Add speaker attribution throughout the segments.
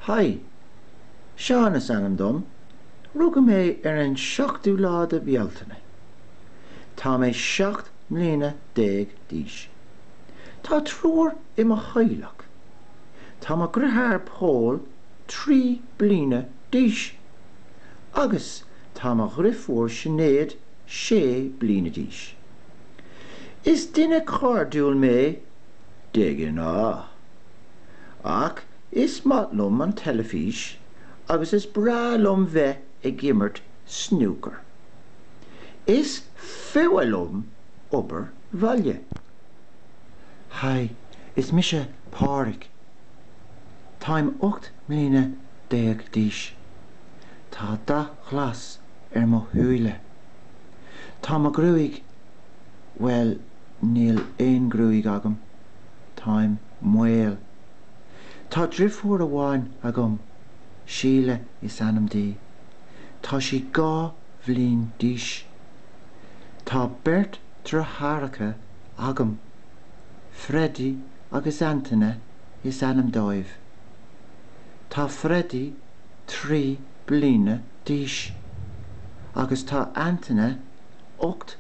Speaker 1: Haigh! Seán is ainm dom. Rugadh mé ar an seachtú lá de Bhealtaine. Tá mé seacht mbliana déag d'aois. Tá triúr i mo theaghlach. Tá mo dheartháir Pól trí bliana d'aois agus tá mo dheirfiúr Sinéad sé bliana d'aois. Is duine cairdiúil mé. De ghnáth. Ach is maith liom an teilifís agus is breá liom bheith ag imirt snúcar. Is fuath liom obair bhaile. Haigh, is mise Pádraig. Táim ocht mbliana déag d'aois. Tá dath glas ar mo shúile. Tá mo ghruaig, bhuel, Níl aon ghruaig agam. Táim maol. Tá deirfiúr amháin agam. Síle is ainm di. Tá sí dhá bhliain d'aois. Tá beirt deartháireacha agam. Freddie agus Antaine is ainm dóibh. Tá Freddie trí bliana d'aois agus tá Antaine ocht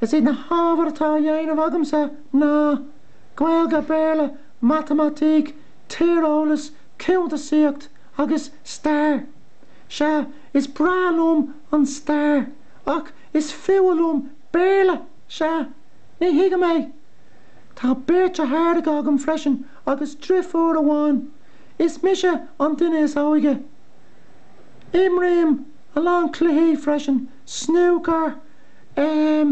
Speaker 1: Is iad na hábhair atá á dhéanamh agamsa ná, Gaeilge, Béarla, Matamaitic, Tíreolas, Cuntasaíocht agus Stair. Sea, is breá liom an Stair, ach is fuath liom Béarla! Sea, ní thuigim é! Tá beirt deartháireacha agam freisin agus deirfiúr amháin. Is mise an duine is óige. Imrím a lán cluichí freisin, snúcar, Eh,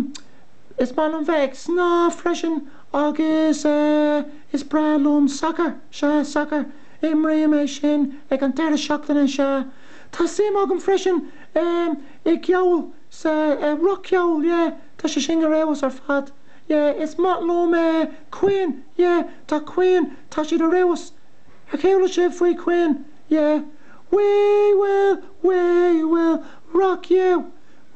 Speaker 1: is maith liom bheith ag snámh freisin agus, eh, is breá liom sacar, sea, sacar, imrím é sin ag an deireadh seachtaine, sea. Tá suim agam freisin, em, i gceol, sa, eh, roc-cheol, yeah, tá sé sin ar fheabhas ar fad. Yeah, is maith liom, eh, Queen, yeah, tá Queen, tá siad ar fheabhas. Ar chuala sibh faoi Queen? Yeah. We will, we will rock you!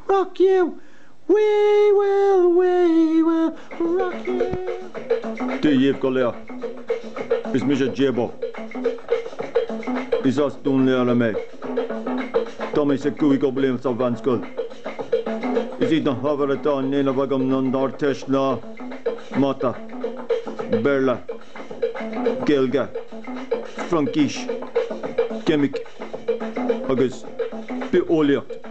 Speaker 1: rock you, we will, we will rock you. Dia dhíbh go léir. Is mise Jabo. Is as Dún Laoghaire mé. Tá mé sa chúigiú bliain sa mheánscoil. Is iad na hábhair atá á ndéanamh agam don Ardteist ná mata, Béarla, Gaeilge, Fraincis, ceimic agus bitheolaíocht.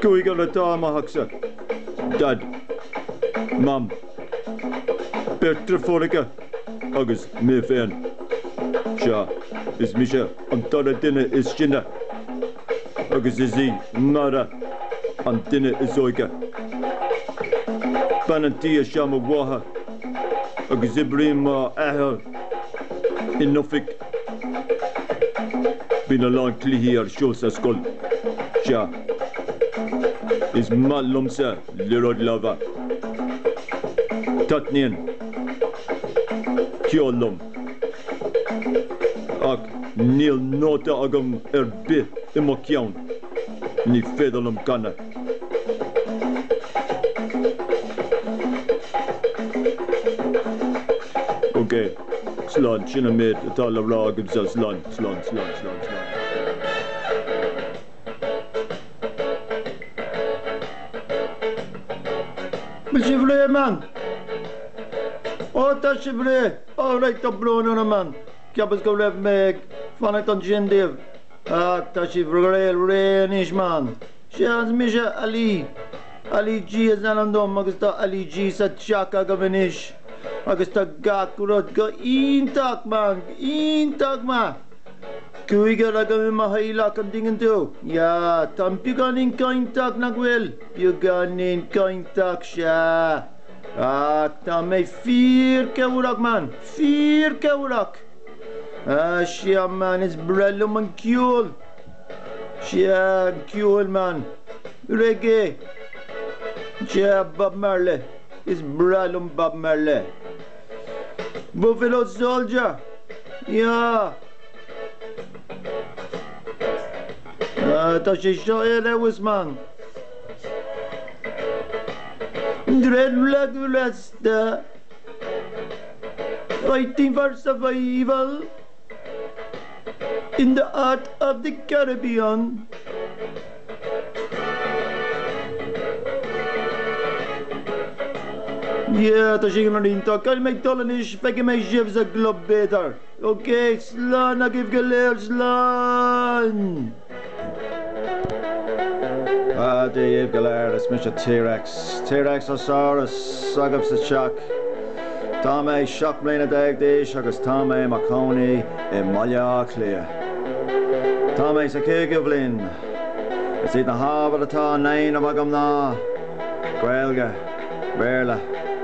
Speaker 1: Cúigear atá i mo theachsa, Daid, Mam, beirt deirfiúracha agus mé féin. Sea, is mise an dara duine is sine agus is í Máire an duine is óige. Bean an tí is ea mo mháthair agus oibríonn m'athair in oifig. Bíonn a lán cluichí ar siúl sa scoil. Sea, is maith liomsa liathróid láimhe. Taitníonn ceol liom. Ach níl nóta agam ar bith i mo cheann. Ní féidir liom canadh. OK. Sláinte an méid atá le rá agaibhse as Sláinte, Sláinte, Sláinte, Sláinte, Sláinte. Bhfuil sibh réidh, man? Ó, tá sibh réidh. Ó, raight, tá brón orm, man. Cheapas go raibh mé ag fanacht ansin daoibh. Ach tá sibh réidh, réidh anois, man. Sea, is mise Ali. Ali G is ainm dom agus tá Ali G sa teach agaibh anois. agus tá gach rud go hiontach, man, iontach, man. Cúigear againn i mo theaghlach, an dtuigeann tú? Yeah, táim beagáinín cainteach, nach bhfuil? Beagáinín cainteach, sea. Ach tá mé fíor-chabhrach, man, fíor-chabhrach. Ah, sea, man, is breá liom an ceol. Sea, an ceol, man. Reggae. Sea, Bob Marley. Is breá liom Bob Marley. But without Soldier, yeah! Ah, tá sé seo ar fheabhas, man! Dread flag of Rasta, fighting for survival in the heart of the Caribbean. Yeah, tá sé iontach. Caithfidh mé dul anois, feicfidh mé sibh sa gclub b'fhéidir. OK, slán agaibh go léir, slán! Dia daoibh go léir, is mise T-Rex, T-Rex Ó Saurus, agaibh sa teach. Tá mé seacht mbliana déag d'aois agus tá mé i mo chónaí i mBaile Átha Cliath. Tá mé sa chúigiú bhliain. Is iad na hábhair atá á ndéanamh agam ná Gaeilge, Béarla,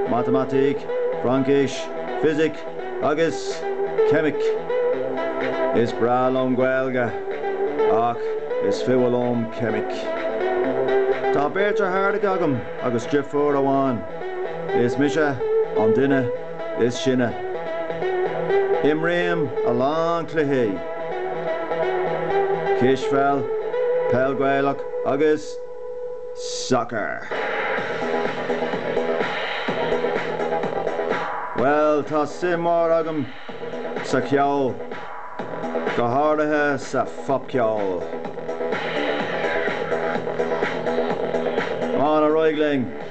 Speaker 1: Matamaitic, Fraincis, Fisic agus Ceimic. Is breá liom Gaeilge ach is fuath liom Ceimic. Tá beirt deartháireacha agam agus deirfiúr amháin. Is mise an duine is sine. Imrím a lán cluichí, cispheil, peil Gaelach agus sacar. Bhuel, tá suim mór agam sa cheol, go háirithe sa phopcheol. Is breá liom